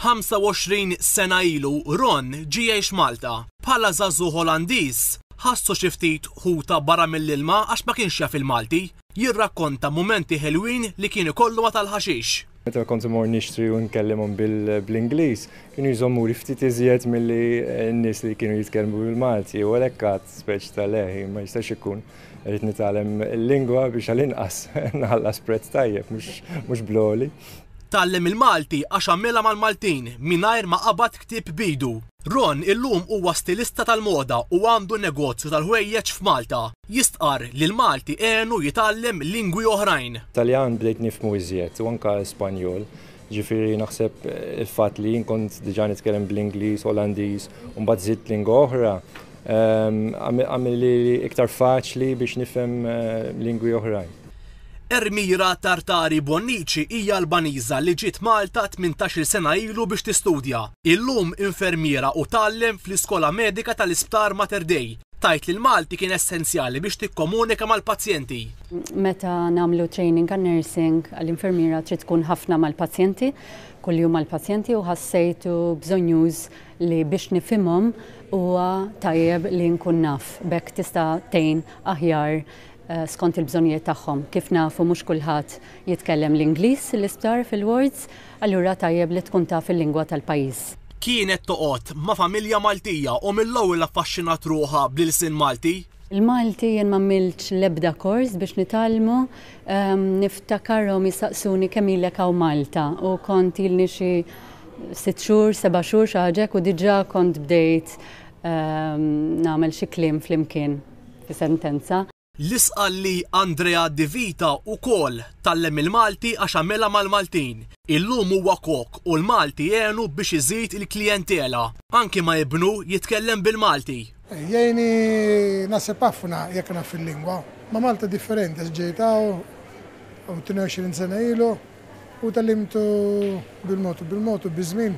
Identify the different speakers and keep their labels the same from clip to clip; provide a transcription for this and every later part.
Speaker 1: 25 sena ilu Ron ġie jgħix Malta. Bħala żagħżugħ Olandiż, ħassu xi ftit ħuta barra mill-ilma għax ma kienx jaf il-Malti. Jirrakkonta mumenti ħelwin li kien ikollu ma' tal-ħaxix. Meta kont immur nixtri u nkellimhom bl-Ingliż, kienu jżommuli ftit iżjed milli n-nies li kienu jitkellmu bil-Malti u għalhekk għadt speċi ta' le, ma jistax ikun. Irrid nitgħallem il-lingwa biex għall-inqas nħallas prezz tajjeb mhux bl-għoli. Tgħallem il-Malti għax għamilha mal-Maltin mingħajr ma qabad ktieb b'idu. Ron illum huwa stilista tal-moda u għandu negozju tal-ħwejjeġ f'Malta. Jistqarr li l-Malti għenu jitgħallem lingwi oħrajn. Taljan bdejt nifhmu iżjed u anke Spanjol. Jiġifieri naħseb il-fatt li jien kont diġà nitkellem bl-Ingliż, Olandiż u mbagħad żidt lingwa oħra ehm, għamilli iktar faċli biex nifhem eh, lingwi oħrajn. Ermira Tartari Bonnici hija Albaniża li ġiet Malta 18-il sena ilu biex tistudja. Illum infermiera u tgħallem fl-Iskola Medika tal-Isptar Mater Dei. Tgħid li l-Malti kien essenzjali biex tikkomunika mal-pazjenti. Meta nagħmlu training għal nursing għal infermiera trid tkun ħafna mal-pazjenti, kuljum mal-pazjenti u ħassejtu bżonjuż li biex nifhimhom huwa tajjeb li nkun naf. B'hekk tista' tgħin aħjar eh, skont il-bżonnijiet tagħhom. Kif nafu mhux kulħadd jitkellem l-Ingliż l-isptar fil-wards, allura tajjeb li tkun taf il-lingwa tal-pajjiż. Kienet toqgħod ma' familja Maltija u mill-ewwel affaxxinat ruħha bl-ilsien Malti. Il-Malti jien m'għamiltx l-ebda kors biex nitgħallmu, niftakarhom jistaqsuni kemm ilek hawn Malta u kont ilni xi sitt xhur, seba' xhur xi ħaġa hekk u diġà kont bdejt nagħmel xi kliem flimkien fi sentenza. L-isqal li Andrea Di Vita wkoll tgħallem il-Malti għax għamilha mal-Maltin. Illum huwa kok u l-Malti għenu biex iżid il-klijentela, anki ma' ibnu jitkellem bil-Malti. Jgħinni naħseb ħafna jekk naf il-lingwa. Ma' Malta differenti għax ġejt hawn 22 sena ilu u tgħallimt bil-mod u bil-mod u biż-żmien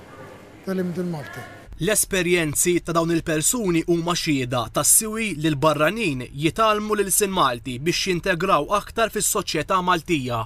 Speaker 1: tgħallimt il-Malti. L-esperjenzi ta' dawn il-persuni huma xhieda tas-siwi li l-barranin jitgħallmu l-ilsien Malti biex jintegraw aktar fis-soċjetà Maltija.